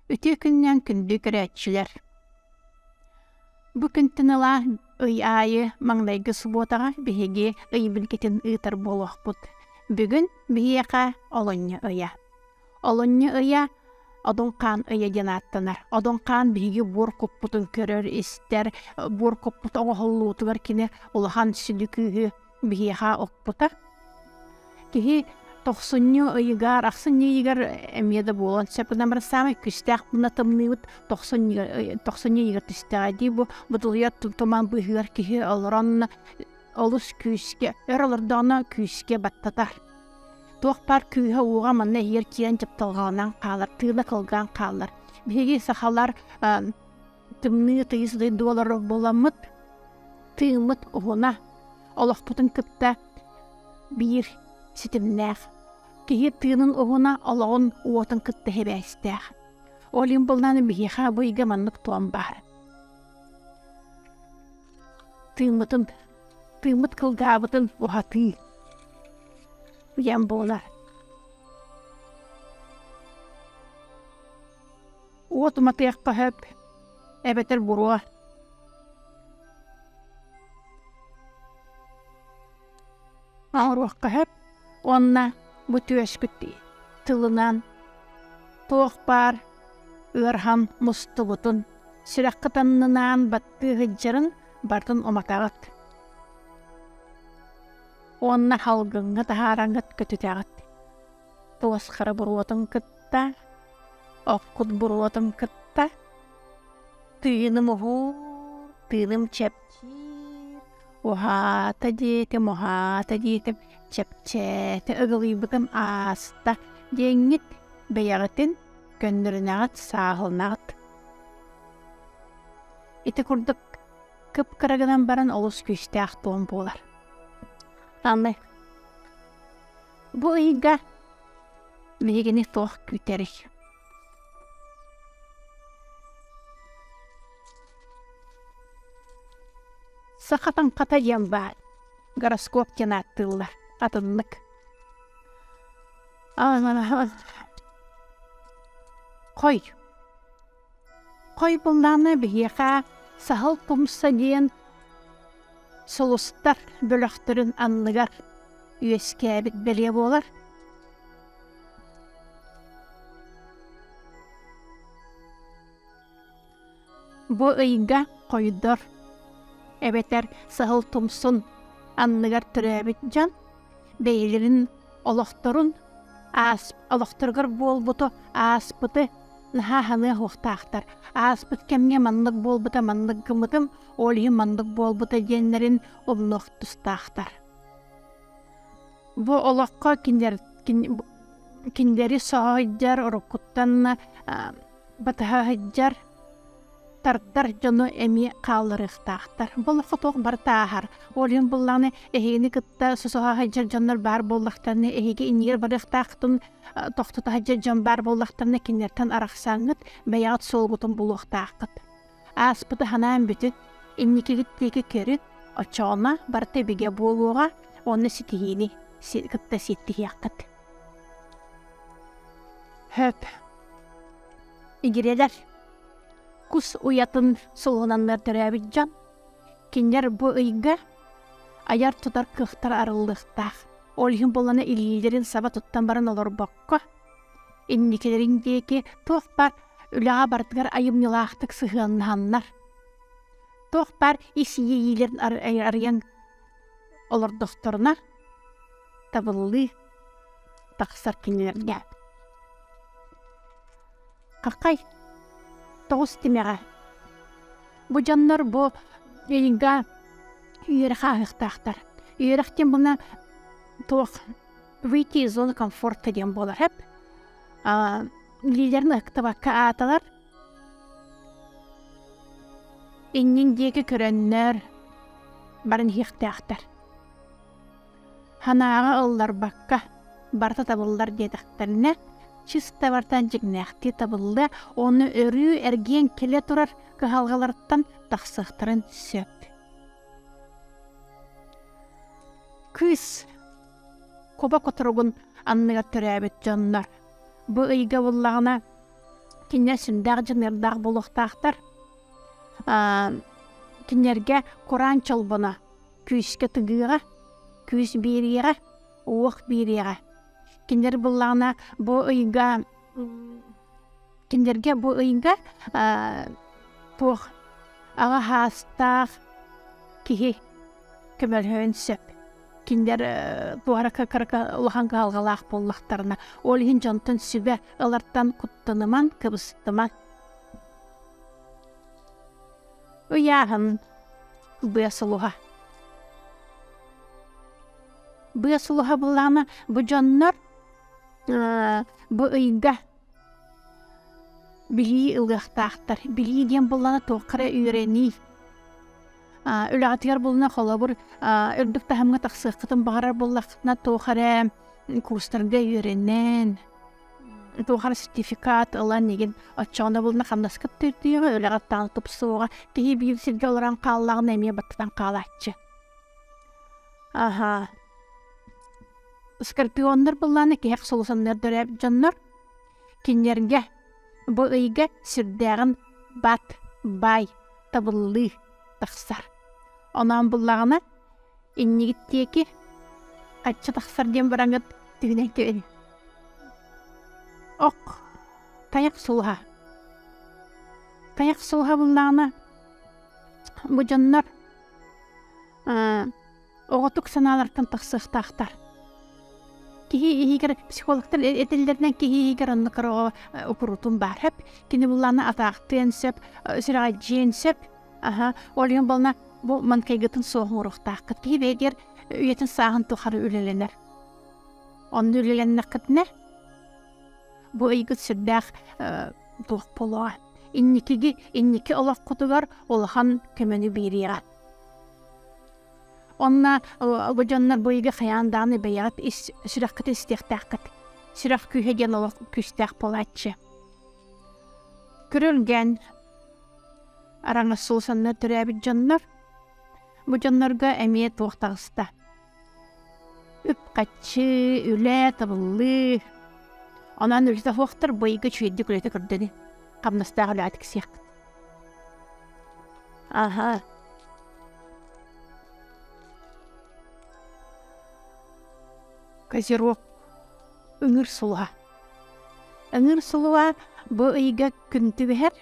Үтүө күнүнэн күндү көрөөччүлэр! Бу күнтэн ыла ый аайы маҥнайгы субуотаҕа биһиги ый билгитин ыытар буолуохпут. Бүгүн биһиэхэ олонньо ыйа. Олунньу ыйа Одуҥхаан ыйа диэн ааттанар. Одуҥхаан биһиги буор куппутун көрөр-истэр, буор куппут оҥоһуллуутугар кини улахан сүдү күүһү биһиэхэ укпута. Киһи тохсунньу ыйыгар, ахсын ыйыгар эмиэ да буолан сөп гынан баран саамай күүстээх быына тымныыбыт тохсунньу ыйыгар түстэҕэ дии бу бутулуйар туман быыһыгар киһи олорон олус күүскэ, өр олордоҕуна күүскэ баттатар. Туох баар кыыһа-ууга манна иһигэр киирэн дьапталҕаланан хаалар, тыына кылгаан хаалар. Биһиги сахалар тымныы тыйыс доллар буоламмыт, тыыммыт уһуна, олохпутун кытта биир ситимнээх. Киһи тыынын уһуна, олоҕун уотун кытта сибээстээх. Ол иһин булнан биһиэхэ бу ыйга маннык туом баар. Тыыммытын тыыммыт кылгаабытын уһатыы уйан буолар уот уматыахха сөп эбэтэр буруо оҥоруохха сөп уонна бу түөскүттии тылынан туох баар ыархан мустубутун сүрэххит аннынаан баттыы сылдьарын бартын уматаҕыт уонна салгыҥҥа таһаараҥыт көтүтэҕит туосхара буруотун кытта оккут буруотун кытта тыыным уһуур тыыным чэпчиир уһаата диэтим уһаата диэтим чэпчээтэ ыгылыйбытым ааста диэҥҥит бэйэҕитин көннөрүнэҕит сааһылнаҕыт Ити курдук кып-кыра гынан баран олус күүстээх туом буолар. Аны бу ыйга биһигини туох күүтэрий? Саха таҥхата диэн баар гороскоп диэн ааттыыллар атыннык. Хой, Хойбыллааны биһиэхэ Саһыл Тумса диэн сулустар бөлөхтөрүн анныгар үөскээбит бэлиэ буолар. Бу ыйга хойдор эбэтэр Саһыл Тумсун анныгар төрөөбүт дьон бэйэлэрин олохторун аас олохторугар буолбуту ааспыты наһаа ханыах уохтаахтар ааспыт кэмҥэ маннык буолбута маннык гымытым ол иһин маннык буолбута диэннэрин умнуох тустаахтар бу олоххо кинилэр кинилэри соһуйдар уруккуттан батыһаһыдьар тардар дьону эмиэ хаалларыахтаахтар олоххо туох бартааһар олюн буллаҕына эһигини кытта сусуһаһыдьар дьоннор баар буоллахтарына эһиги иннигэр барыахтаахтын тохтутаһыдьар дьон баар буоллахтарына кинилэртэн арахсаҥҥыт бэйэҕит суолгутун булуохтааххыт ааспыты ханаан бүтүн инникигит диэки көрүн оччоҕуна барыта бигэ буолуоҕа уонна ситиһиини кытта ситтиһиэххит хөп игирэлэр кус уйатын сулуһунаннар төрөөбүт дьон кинилэр бу ыйга айар-тутар кыахтара арыллыахтаах ол иһин буолана илиилэрин саба туттан баран олорбокко инникилэрин диэки туох баар үлэҕэ барытыгар айымньылаахтык сыһыаннаһаннар туох баар ис-иэйиилэрин арыйан олордохторуна табыллыы тахсар кинилэргэ какай тоҕус тимэҕэ бу дьоннор бу ыйга үөрэ хааһыктаахтар үөрэхтин була туох выйти из зоны комфорта диэн буолар хэп илиилэрин ыктыбакка ааталар иннин диэки көрөннөр баран иһиэхтээхтэр Ханааҕы ылларбакка барыта табыллар диэтэхтэринэ чистабартан дьиҥнээхтии табыллыа уонна өрүү эргийэн кэлэ турар кыһалҕалартан тахсыахтарын сөп. Кыыс кобо которугун анныгар төрөөбүт дьоннор бу ыйга буллаҕына кинилэр сүрдээх дьаныардаах буолуохтаахтар. кинилэргэ кураан чолбоно күүскэ тыгыаҕа, күүс биэриэҕэ, уох биэриэҕэ. Кинилэр буоллаҕына бу ыйга кинилэргэ бу ыйга туох аҕа саастаах киһи көмөлөһүөн сөп. Кинилэр туора кыкырыка улахан кыһалҕалаах буоллахтарына, ол иһин дьонтон сүбэ ылартан куттанымаҥ, кыбыстымаҥ. ыйааһын быасулуһа быасулуһа булаана бу дьоннор бу ыйга билии ылыахтаахтар билии диэн буллана туохха эрэ үөрэнии үлэҕитигэр булуна холобур үрдүк таһымҥа тахсыаххытын баҕарар буоллаххытына туох эрэ курстарга үөрэнэн Туохар сертификат ылан игин оччоҕуна булна хамнаскыт түрдүйөҕө үлэҕиттаан тупсуоҕа киһи биир сиргэ олорон хааллаҕына эмиэ баттатан хаалааччы. Аһаа скорпионнар буллаана киһэх сулусанныардара дьоннор кинилэргэ бу ыйга сүрдээҕин бат бай табыллыы тахсар. Оноон буллаҕына иннигиттиэки ачча тахсар диэн бараҥыт түһүнэн түөри ок тайах сулуһа тайах сулуһа буллаҕына бу дьоннор оҕотук санаалартан тахсыахтаахтар киһи иһигэр психологтар этэллэринэн киһи иһигэр онно кыраҕа э, упурутун баар сөп кини буллаана атаахтыан сөп э, сүрэҕэлдьиэн сөп Аха, олион бална бу манкайгытын суоһууруохтаахкыт. Киһи бэйдиэр үйэтин сааһын тухары үлэлэнэр. Онно үлэлэннэххитинэ, бу ыйгыт сүрдээх туох болоҕо. Инникиги, инники олоххутугар улахан көмөнү биэриэҕэ. Онна бу дьоннор бу ыйга хайаан дааны бэйэҕит сүрэхкит истиэхтээххит. Сүрэх күүһэ диэн олох күүстээх буолааччы. Көрүлгэн, араҥассуусаннар төрөөбүт дьоннор бу дьоннорго эмиэ туох таҕыста үп-хаччы үлэ табыллыы онон үлтаһуохтар быйга чүүйдик үлэтэ көрдөні хамнастаах үлэ тиксиэхкит аха козерог ыҥыр сулуһа ыҥыр сулуһа бу ыйга күн түбэһэр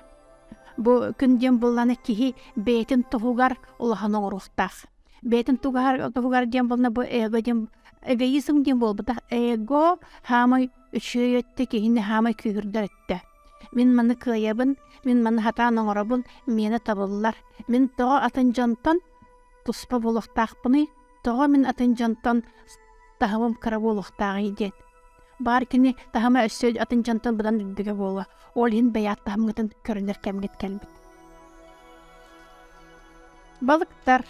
Бу күн диэн булланы киһи бэйэтин тоһугар улахан оҥоруохтаах. Бэйэтин тугар диэн булна бу эгоизм диэн буолбута. Эго хаамай үчүөй өттө киһини хаамай күүһүрдэр өттө. Мин маны кыайабын, мин маны хатаан оҥоробун, миэнэ табыллар. Мин тоҕо атын дьонтон туспа буолуохтаахпыный, тоҕо мин атын дьонтон таһымым кыра буолуохтааҕый диэн. Баар кини таһыма өссө атын дьон тылбытан үрдүгэ буолуо. Ол иһин бэйэт таһымгытын көрүнэр кэмгит кэлбит. Балыктар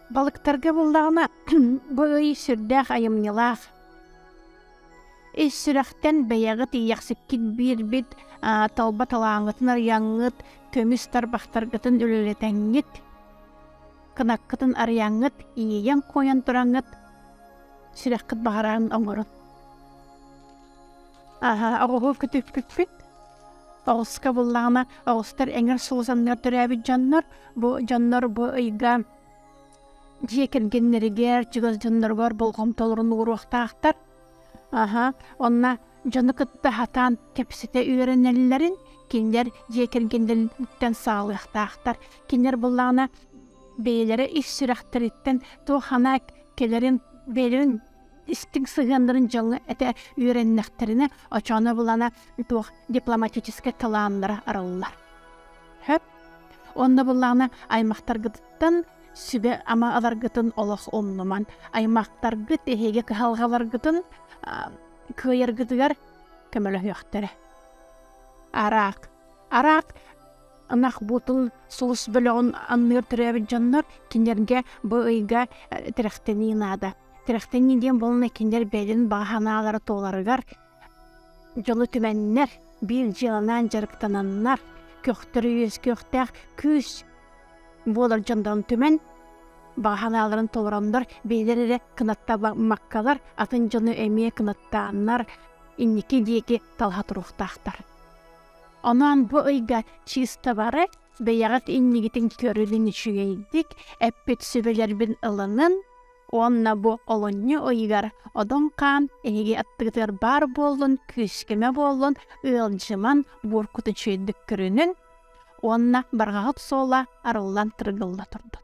Балыктарга буллаҕына бу ый сүрдээх айымньылаах. Ис сүрэхтэн бэйэҕит иэхсиккит биирбит толба талааҥытын арыйаҥҥыт, көмүс тарбахтаргытын үлэлэтэҥҥит. кынаккытын арыйаҥҥыт, иэйэн-куойан тураҥҥыт, сүрэххит баҕараан оҥорун. Аһа, оҕуһу күтүкпүппүт. Оҕуска буллаҕына оҕустар эҥэр сулусаннар төрөөбүт дьоннор, бу дьоннор бу ыйга дьиэ кэргэннэригэр, чугас дьонноругар болҕомтолорун ууруохтаахтар. Аһа, онно дьону кытта хатаан кэпсэтэ үөрэнэллэрин кинилэр дьиэ кэргэнлэриттэн саалыахтаахтар кинилэр буллаҕына бэйэлэрэ ис сүрэхтэриттэн туох ханаа кэлэрин бэйэлэрин истиҥ сыһыаннарын дьоҥҥо этэ үөрэннэхтэринэ очооно булана туох дипломатическай талааннара арыллар хөп онно буллаҕына аймахтаргытыттан сүбэ ама аларгытын олох умнуман аймахтаргыт эһиги кыһалҕаларгытын кыайаргытыгар көмөлөһүөхтэрэ. Араак, араак ынах буутун сулус бөлөҕүн анныыр төрөөбүт дьоннор кинилэргэ бу ыйга э, тирэхтэнии наада. Тирэхтэнии диэн булуна кинилэр бэйэлэрин баҕа санаалара туоларыгар дьолу түмэннэр, биир дьыаланаан дьарыктананнар, көхтөрө үөскүөхтээх күүс буолар дьондорун түмэн баҕа санааларын толороннор бэйэлэр эрэ кынаттамаккалар атын дьону эмиэ кынаттааннар инники диэки талаха туруохтаахтар онон бу ыйга чисто бары бэйэҕит иннигитин көрүлүн үчүгэйдик эппит сүбэлэрбин ылынын уонна бу олунньу ыйыгар одон хаан эһиги аттыгытыгар баар буоллун күүскүмэ буоллун ыалдьыман бууркут үчүгэйдик көрүнүн уонна барҕаҕыт суола арыллан тыргылла турдун